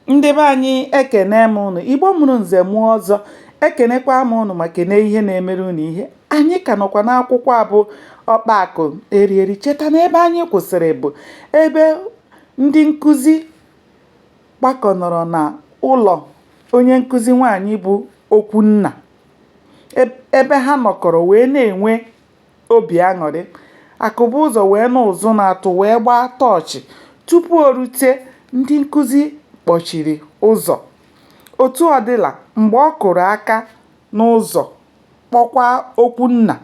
ndị be anyị ekene m ụnụ igbo mụrụ nze mụọ ọzọ ekenekwa m ụnụ ma kene ihe na-emere ụnụ ihe anyị ka nọkwa n'akwụkwọ abụ ọkpa akụ eri eri cheta na ebe anyị kwụsịrị bụ ebe ndị nkụzi gbakọnọrọ na ụlọ onye nkụzi nwaanyị bụ okwunna ebe ha nọkọrọ wee na-enwe obi aṅụrị. Akụbụzọ wee nụ ụzụ na-atụ wee gbaa tọọchị. Tupu o rute, ndị nkụzi kpọchiri ụzọ. Otu ọ dịla, mgbe ọ kụrụ aka n'ụzọ, kpọkwa Okwunna,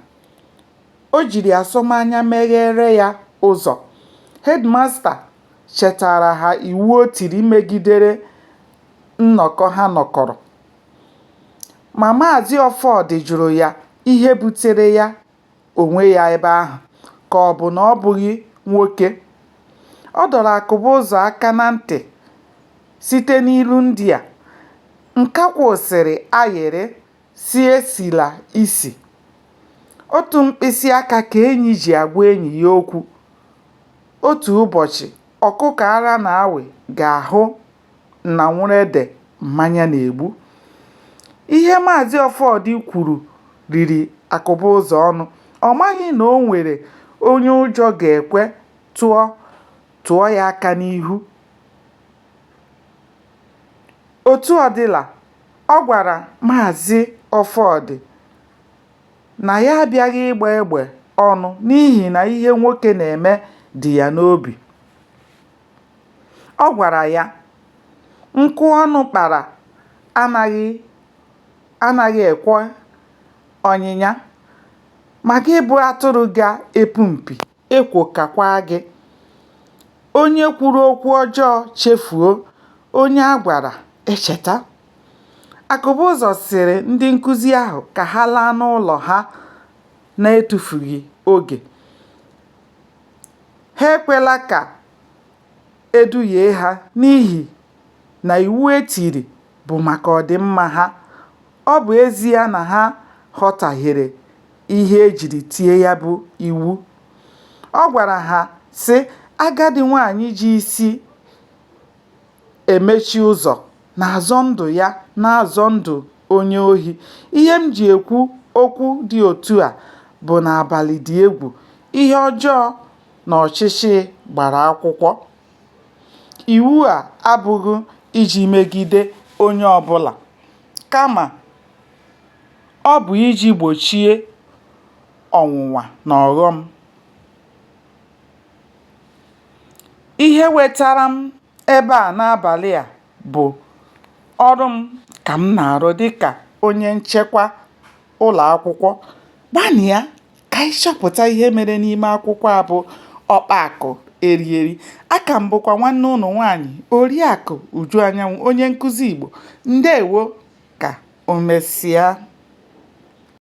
o jiri asọmanya megheere ya ụzọ. Hedmasta chetaara ha iwu o tiri megidere nnọkọ ha nọkọrọ. Ma Maazị Ọfọdụ jụrụ ya ihe butere ya onwe ya ebe ahụ ka ọ bụ na ọ bụghị nwoke. Ọ dọrọ Akụbụzọ aka na ntị site n'ilu ndị a, Nkakwụ sịrị ayịrị sị esila isi. Otu mkpịsị aka ka enyi ji agwa enyi ya okwu. Otu ụbọchị, ọkụkọ ara na-awị ga-ahụ nanwụrụede mmanya na-egbu. Ihe Maazị Ọfọdụ kwuru riri Akụbụzọ ọnụ. Ọ maghị na o nwere onye ụjọ ga-ekwe tụọ tụọ ya aka n'ihu. Otu ọ dịla, ọ gwara Maazị Ọfọdụ na ya abịaghị ịgba egbe ọnụ n'ihi na ihe nwoke na-eme dị ya n'obi. Ọ gwara ya, Nkụ ọnụ kpara anaghị ekwe ọnyịnya, ma gị bụ atụrụ ga-epu mpi, ekwo kakwa gị. Onye kwuru okwu ọjọọ chefuo, onye a gwara echeta. Akụbụzọ sịrị ndị nkụzi ahụ ka ha laa n'ụlọ ha n'etufughị oge. Ha ekwela ka e duhie ha n'ihi na iwu e tiri bụ maka ọdịmma ha, ọ bụ ezie na ha ghọtahiere ihe e jiri tie ya bụ iwu. Ọ gwara ha, sị, Agadi nwaanyị ji isi emechi ụzọ na-azọ ndụ ya na-azọ ndụ onye ohi. Ihe m ji ekwu okwu dị otu a bụ na abalị dị egwu, ihe ọjọọ na ọchịchị gbara akwụkwọ. Iwu a abụghị iji megide onye ọbụla kama ọ bụ iji gbochie ọnwụnwa na ọghọm. ihe wetara m ebe a n'abàlị à bụ̀ ọrụ m kà m nà-àrụ dịkà onye nchekwa ụlọ̀ akwụkwọ gbanịa kà anyị chọpụ̀ta ihe mere n'ime akwụkwọ a bụ ọkpa àkụ eri eri a kà m bụkwa nwanne ụnụ nwaanyị̀ òriàkụ ùju anyanwụ onye nkụzi ìgbò ǹdewo kà o mesia